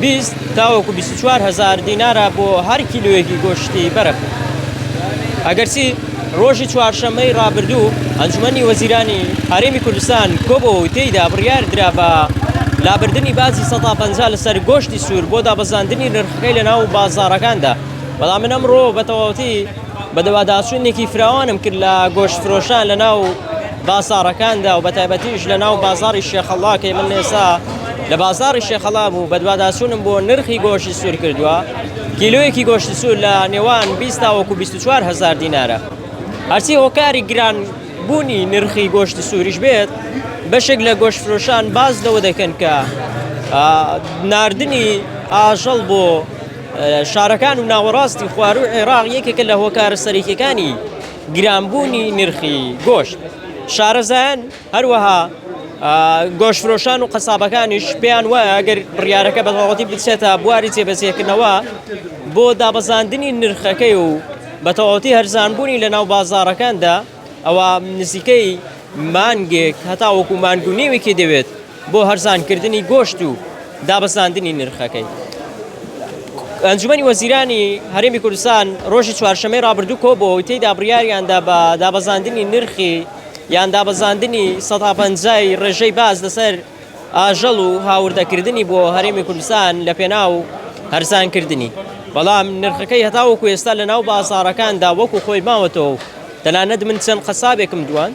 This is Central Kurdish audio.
بیست تاوەکو بیست و چوار هەزار دینارە بۆ هەر کیلۆیەکی گۆشتی بەرخ. ئەگەرچی ڕۆژی چوارشەممەی ڕابردوو ئەنجومەنی وەزیرانی هەرێمی کوردستان کۆبەوە و تێیدا بڕیار درا بە لابردنی باجی سەدا پەنجا لەسەر گۆشتی سوور بۆ دابەزاندنی نرخەکەی لەناو بازاڕەکاندا، بەڵام من ئەمڕۆ بەتەواوەتی بەدواداچوونێکی فراوانم کرد لە گۆشتفرۆشان لەناو بازاڕەکاندا و بەتایبەتیش لە ناو بازاڕی شێخەڵا کەی من ئێستا لە بازاڕی شێخەڵا بوو بەدواداچوونم بۆ نرخی گۆشتی سوور کردووە کیلویەکی گۆشتی سوور لە نێوان 20 تاوەکو 24 هزار دینارە هەرچی هۆکاری گران بوونی نرخی گۆشتی سووریش بێت بەشێک لە گۆشت فرۆشان باز لەوە دەکەن کە ناردنی ئاژەڵ بۆ شارەکان و ناوەڕاستی خوارو عێراق یەکێکە لە هۆکارە سەرەکیەکانی گرانبوونی نرخی گۆشت، شارەزایان هەروەها گۆشتفرۆشان و قەسابەکانیش پێیان وایە گەر بڕیارەکە بەتەواوەتی بچێتە بواری جێبەجێکردنەوە بۆ دابەزاندنی نرخەکەی و بەتەواوەتی هەرزانبوونی لەناو بازاڕەکاندا ئەوا نزیکەی مانگێک هەتاوەکو مانگ و نیوێکی دەوێت بۆ هەرزانکردنی گۆشت و دابەزاندنی نرخەکەی. ئەنجومەنی وەزیرانی هەرێمی کوردستان ڕۆژی چوارشەممەی ڕابردوو کۆبووە و تێیدا بڕیاریاندا بە دابەزاندنی نرخی یان دابەزاندنی سەد تا پەنجا ی ڕێژەی باج لەسەر ئاژەڵ و هاوردەکردنی بۆ هەرێمی کوردستان لەپێناو هەرزانکردنی بەڵام نرخەکەی هەتاوەکو ئێستا لەناو بازاڕەکاندا وەکو خۆی ماوەتەوە و تەنانەت من چەند قەسابێکم دواند